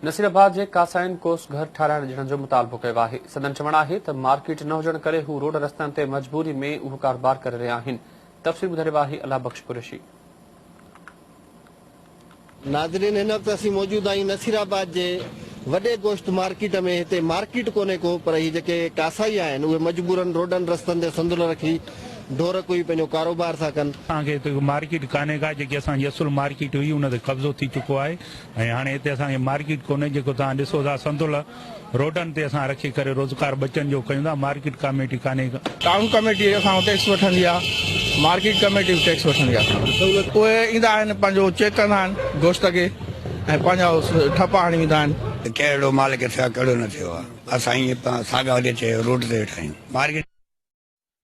نصير آباد جي ڪاسائين ڪوس گهر ٺاهرائڻ ڏيڻ جو مطالبو ڪيو آهي، سندن چوڻ آهي ته مارڪيٽ نه هجڻ ڪري هو روڊ رستن تي مجبوري ۾ اهو ڪاروبار ڪري رهيا آهن، تفصيل ٻڌائي رهيو آهي الله بخش قريشي. ناظرين هن وقت اسين موجود آهيون نصير آباد جي وڏي گوشت مارڪيٽ ۾ هتي مارڪيٽ ڪونهي ڪو پر هي جيڪي ڪاسائي آهن اهي مجبورن روڊن رستن تي سندل رکي ڍور ڪوئي پنهنجو ڪاروبار ٿا ڪن. اسان کي هتي ڪو مارڪيٽ ڪانهي ڪا جيڪي اسان جي اصل مارڪيٽ هئي ان تي قبضو ٿي چڪو آهي ۽ هاڻي هتي اسان کي مارڪيٽ ڪونهي جيڪو توهان ڏسو ٿا سنتولها روڊن تي اسان رکي ڪري روزگار ٻچن جو ڪيون ٿا مارڪيٽ ڪاميٽي ڪانهي ڪا. ٽائون ڪاميٽي اسان کان ٽيڪس وٺندي آهي مارڪيٽ ڪاميٽي به ٽيڪس وٺندي آهي اسان کان اهي ايندا آهن پنهنجو چيڪ ڪندا آهن گوشت کي ۽ پنهنجا ٺپا هڻي ويندا آهن. ته ڪهڙو مالڪ ٿيو آهي ڪهڙو نه ٿيو آهي اسان ائين ساڳا هلي چيو روڊ تي ويٺا آهيون مارڪيٽ.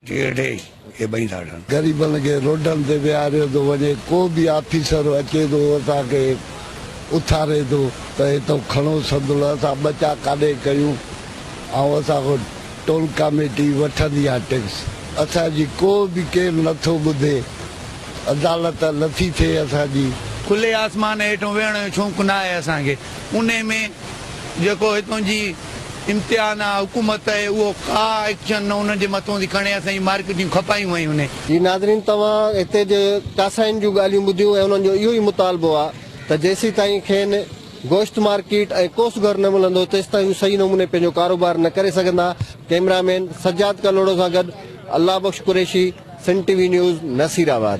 ٽيهه ڊي کي ٻئي ڌاڙن. غريبن کي روڊن تي ويهاريو ٿو وڃي، ڪو به آفيسر اچي ٿو اسان کي اٿاري ٿو ته هتئون کڻو سندل اسان ٻچا ڪاڏي ڪيون ۽ اسان کان ٽول ڪاميٽي وٺندي آهي ٽيڪس اسان جي ڪو به ڪير نه ٿو ٻڌي عدالت نه ٿي ٿئي اسان جي. کلي آسمان هيٺون ويهڻ جو شونق ناهي اسان کي انهي ۾ جيڪو هتئون جي. امتحان آ حڪومت اهو ڪا ايڪشن نه انهن جي مٿون ٿي کڻي اسان جي مارڪ جون کپايون ويون انهي. جي ناظرين توهان هتي جي چاسائين جون ڳالهيون ٻڌيون ۽ انهن جو اهو ئي مطالبو آ ته جيسين تائين کين گوشت مارڪيٽ ۽ ڪوس گهر نه ملندو تيستائين هو صحيح نموني پنهنجو ڪاروبار نه ڪري سگهندا ڪئميرا مين سجاد ڪلهوڙو سان گڏ Allah Bakhsh Qureshi Sindh T V news Nasirabad.